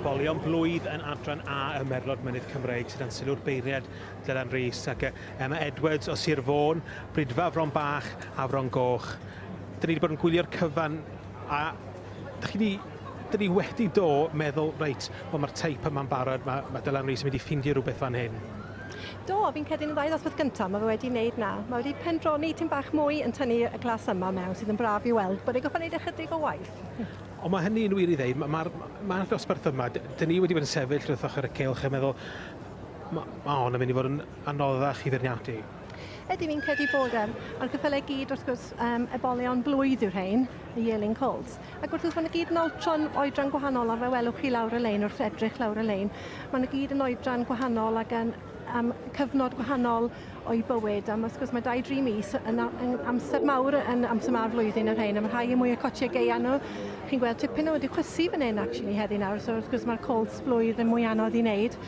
Bolion blwydd yn adran A y Merlod Mynydd Cymreig sydd yn sylw'r beiriad Dylan Rees ac Emma Edwards o Sir Fôn, Brydfa Fron Bach a Fron Goch. Dyn ni wedi bod yn gwylio'r cyfan a dych chi wedi dyn ni wedi do meddwl, reit, wel mae'r teip yma'n barod, mae, mae Dylan Rees yn mynd i ffindio rhywbeth fan hyn. Do, fi'n credu yn y ddau ddosbarth gyntaf, mae fe wedi wneud na. Mae wedi pendroni tyn bach mwy yn tynnu y glas yma mewn, sydd yn braf i weld, bod ei goffa wneud ychydig o waith. Ond mae hynny'n wir i ddeud, mae'r ma, ma, ma ddosbarth yma, dyn ni wedi bod yn sefyll wrth ochr y cylch a meddwl, mae ma hon yn mynd i fod yn anoddach i feirniadu. Ydy, fi'n credu bod e. A'r cyffylau gyd, wrth gwrs, um, ebolion blwydd yw'r rhain, y Yearling Colts. Ac wrth gwrs, maen nhw gyd yn oedran, oedran gwahanol, a fe welwch chi lawr y lein wrth edrych lawr y lein, maen nhw gyd yn oedran gwahanol ac yn am cyfnod gwahanol o'i bywyd. Am wrth gwrs, mae 2-3 mis yn, yn amser mawr yn amser mawr flwyddyn y rhain, a mae rhai yn mwy o cotiau geia nhw. Chi'n gweld tipyn o wedi chwysu fan hyn, actually, heddi nawr, so wrth gwrs mae'r colds blwydd yn mwy anodd i wneud,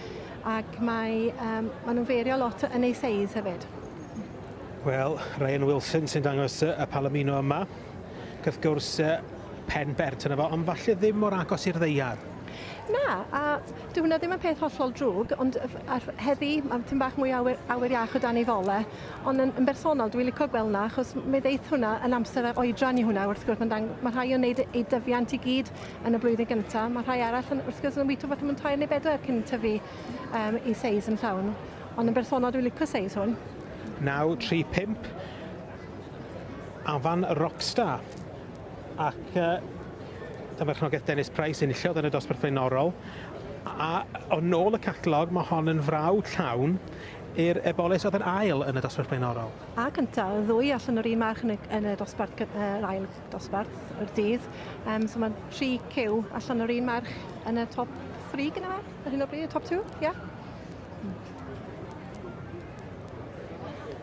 ac mae, um, maen nhw'n feirio lot yn ei seis hefyd. Wel, Ryan Wilson sy'n dangos y palomino yma. wrth gwrs, pen bert yna fo, ond falle ddim mor agos i'r ddeiar. Na, a dyw hwnna ddim yn peth hollol drwg, ond heddi mae tyn bach mwy awyr, awyr iach o dan ei fole, ond yn, yn bersonol dwi'n licio gweld hwnna achos mi ddeith hwnna yn amser a oedran i hwnna wrth gwrs, mae'n dang- mae rhai yn wneud eu dyfiant i gyd yn y blwyddyn gyntaf, mae rhai arall yn, wrth gwrs yn wyto falle mewn tair neu bedwar cyn tyfu um, i seis yn llawn. Ond yn bersonol dwi'n licio seis hwn. 9, 3, 5. Afan Rockstar. Ac uh, dyma chnogaeth Dennis Price enillodd yn y dosbarth flaenorol. A o nôl y catalog, mae hon yn frawd llawn i'r ebolis oedd yn ail yn y dosbarth blaenorol. A cyntaf, y ddwy allan o'r un march yn y, yn y dosbarth, yr ail dosbarth o'r dydd. Um, so mae'n tri cyw allan o'r un march yn y top 3 gyda fe, ar hyn o bryd, y top 2, ie? Yeah.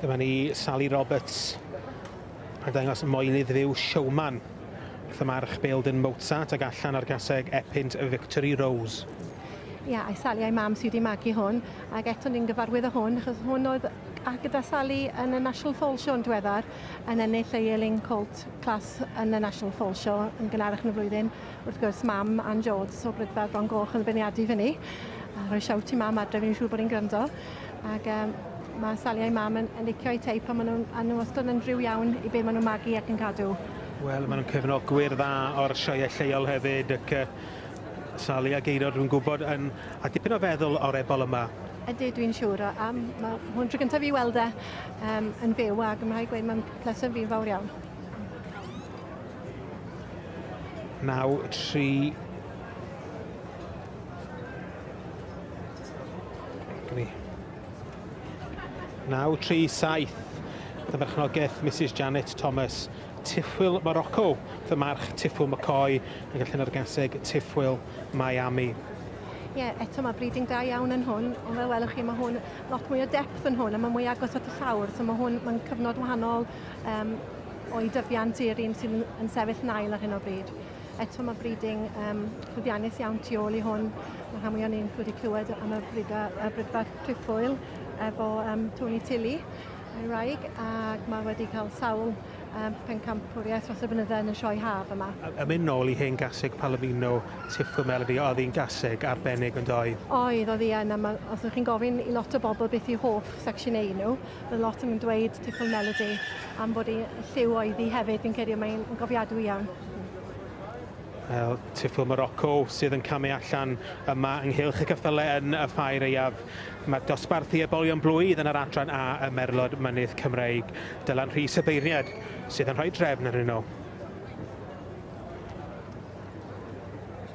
Dyma ni Sally Roberts yn dangos moyn i ddiw Showman wrth y march Beldon Mozart ag allan ar gaseg Epynt Victory Rose. Ia, yeah, a'i Sally a'i mam sydd wedi magu hwn, ac eto ni'n gyfarwydd o hwn, achos hwn oedd a gyda Sally yn y National Fall Show yn diweddar, yn ennill ei Ealing Colt Class yn y National Fall Show yn gynharach yn y flwyddyn, Wrth gwrs, mam Ann Jones o Brydferth Fron Goch yn feirniadu fy ni. A rhoi siawt i mam adref, fi'n siŵr bod hi'n gwrando. Ac um, mae Sally a'i mam yn, yn licio eu teip pan maen nhw'n a nhw wastad yn rhyw iawn i be maen nhw'n magu ac yn cadw. Wel, maen nhw'n cefnogwyr dda o'r sioeau lleol hefyd ac uh, Sally a Geirod rwy'n gwybod yn a dipyn o feddwl o'r ebol yma. Ydy, dwi'n siŵr. A, a mae hwn tro gyntaf i weld e um, yn fyw ac mae'n rhaid gweud mae'n pleser fi'n fawr iawn. 9, 3, Gni. 9, 3, 7. Dyna berchnogaeth Mrs Janet Thomas, Tiffwyl Morocco, fy march Tiffwyl McCoy, yn gallu ar gaseg Tiffwyl Miami. Ie, yeah, eto mae breeding da iawn yn hwn, ond fel welwch chi mae hwn lot mwy o depth yn hwn, a mae mwy agos at y llawr, so mae hwn mae'n cyfnod wahanol, um, o'i dyfiant i'r un sy'n yn sefyll nail ar hyn o bryd. Eto mae breeding um, llwyddiannus iawn tu ôl i hwn. Mae rhan mwy o'n i'n wedi clywed am y brida, y brydfa cliffwyl efo um, Tony Tilly, ei wraig, ac mae wedi cael sawl um, pencampwriaeth dros y bynydde yn y sioe haf yma. Yn mynd nôl i hen gaseg Palomino, Tiffo Melody, oedd hi'n gaseg arbennig yn doedd? Oedd, oedd hi yn, os ydych chi'n gofyn i lot o bobl beth yw hoff secsiynau nhw, Mae lot yn dweud Tipple Melody am bod hi'n lliw oedd hi hefyd, fi'n credu mae'n gofiadwy iawn. Wel, Tipple Morocco sydd yn camu allan yma ynghylch y cyffyle yn y ffair eiaf. Mae dosbarth i ebolion blwydd yn yr adran A y Merlod Mynydd Cymreig, Dylan Rhys y beirniad sydd yn rhoi drefn arnyn nhw.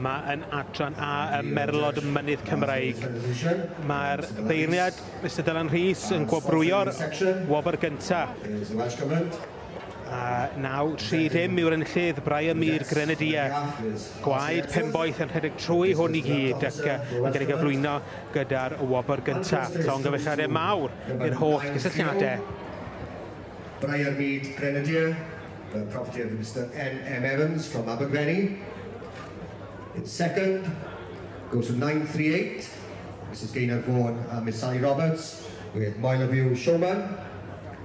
yma yn adran A ym Merlod Mynydd Cymraeg. Mae'r beirniad Mr Dylan Rhys yn gwobrwyo'r wobr gyntaf. A nawr, tri ddim yw'r enllydd, Brian Mead, Grenadier. Gwaed Penboeth yn rhedeg trwy hwn i gyd ac yn cael ei gyflwyno gyda'r wobr gyntaf. Llongyfarchiadau mawr i'r holl gysylltiadau. Brian Mead, Grenadier, the property of Mr NM Evans from Abergvenny. In second, goes to 938, Mrs Gaynor Vaughan and Miss Sally Roberts with Moyleviw Showman.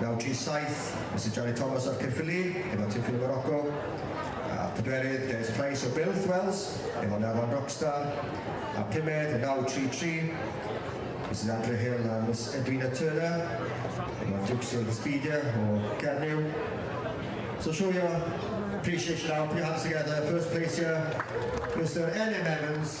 1937, Mister Johnny Thomas o'r Caerffili, efo Tiffin o Moroco, a phedwerydd, Dennis Price o Builth, Wales, efo Nafon Rockstar, a pumed, yn 1933, Misus Andrea Hill a Miss Edwina Turner, efo Dukes of the Spedia o Gernyw. So show your appreciation now, put your hands together, first place here, Mister Elim Evans,